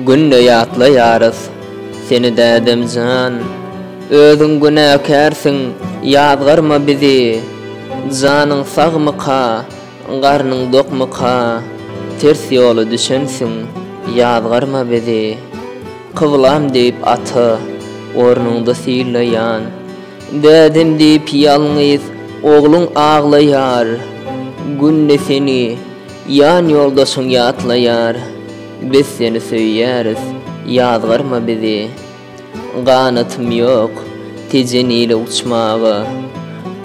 Günde ýatlaýarys seni dädemjan, Özüň günäkärsiň ýazgarma bizi. Janyň sagmyka, garnyň dokmyka, Ters ýola düşensiň ýazgarma bizi. Kyblam diýip ata ornuňda sylaýan, Dädem diýip ýalňyz ogluň aglaýar. Günde seni. Jan ýoldaşyň ýatlaýar, biz seni söýýäris, ýazgarma bizi. Ganatym ýok, tejen ile uçmaga,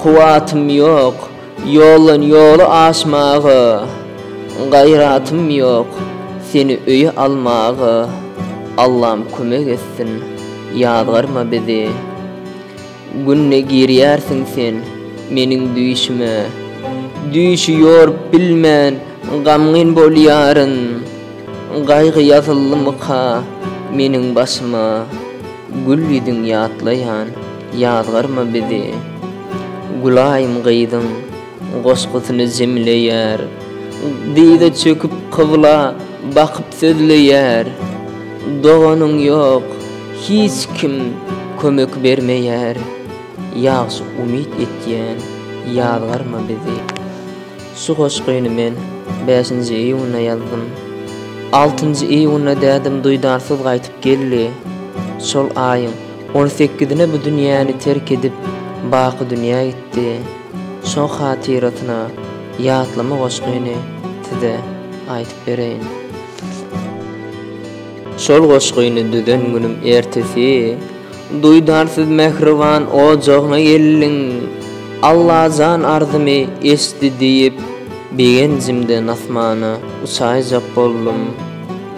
kuwwatym ýok, ýoldan ýoly aşmaga, gaýratym ýok, seni öýe almaga, Allam kömek etsin, ýazgarma bizi. Günde girýärsiň sen meniň düýşüme. Düýşi ýorup bilmän gamgyn bolýaryn. Gaýgy ýazyldymyka meniň başyma. Gül ýüzüň ýatlaýan ýazgarma bizi. Gülaýym gyzyň. Goşgusyny jemleýär. Dyza çöküp kybla bakyp sözleýär. Doganyň ýok, hiç kim kömek bermeýär. Ýagşy umyt etýän, ýazgarma bizi. Şu goşgyny men bäşinji iýunda ýazdym. Altynjy iýunda dädem duýdansyz gaýtyp geldi. Şol aýyň on sekizine bu dünýäni terk edip, baky dünýä gitdi. Şo hatyrasyna ýatlama goşgyny size aýdyp bereýin. Şol goşgyny düzen günüm ertesi duýdansyz mähriban ojagyna geldim. Allajan arzymy eştdi diýip, begenjimden asmana uçaýjak boldum.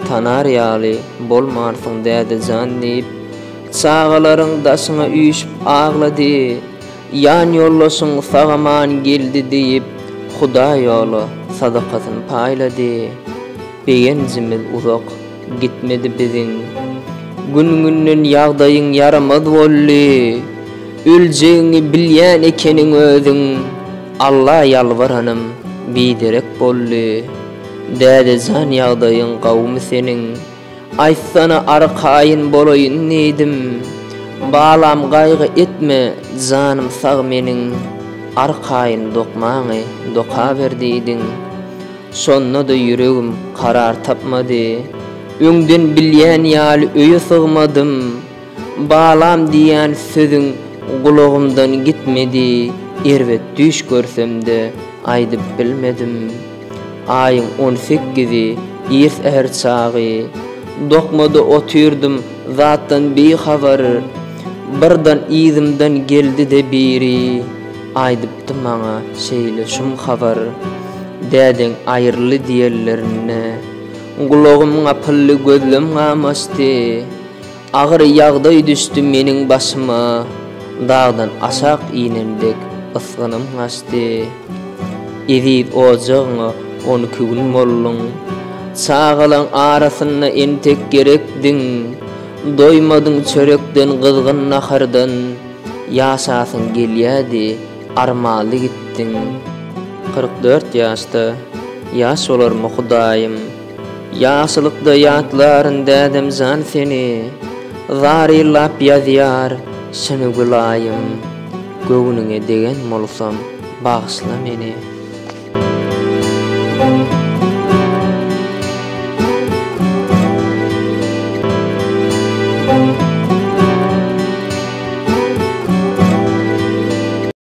Tanar ýaly bolmarsyň dädejan diýip, çagalaryň daşyna üýşüp aglady. Jan ýoldaşyň sag-aman geldi diýip, Hudaý ýola sadakasyny paýlady. Begenjimiz uzak gitmedi biziň. Gün-günden ýagdaýyň ýaramaz boldy. Öljegiňi bilýän ekeniň özüň. Alla ýalbaranym biderek boldy. Dädejan ýagdaýyň gowumy seniň? Aýtsana arkaýyn bolaýyn diýdim. Balam gaýgy etme janym sag meniň arkaýyn dokmaňy dokaber diýdiň. Şonda-da ýüregim karar tapmady. Öňden bilýän ýaly öýe sygmadym. Balam diýýän sözüň gulagymdan gitmedi, erbet düýş görsem-de aýdyp bilmedim. Aýyň on sekizi, ir-säher çagy. Dokmada otyrdym, zatdan bihabar. Birden yzymdan geldi-de biri. Aýdypdy maňa şeýle şum habar. Dädeň aýryldy diýenlerinde. Gulagym gapyldy, gözlem gamaşdy. Agyr ýagdaý düşdi meniň başyma, Dagdan aşak inem dek ysgynym gaçdy. Eziz ojagyňa on iki gün bolduň, Çagalaň arasynda entek gerekdiň. Doýmadyň çörekden, gyzgyn nahardan, Ýaşasyň gelýädi, armaly gitdiň. Kyrk dört ýaşda, ýaş bolarmy Hudaýym? Ýagşylykda ýatlaryn dädem jan seni, Zar ýyllap ýazýar şuny Gülaýym, Göwnüňe degen bolsam, bagyşla meni.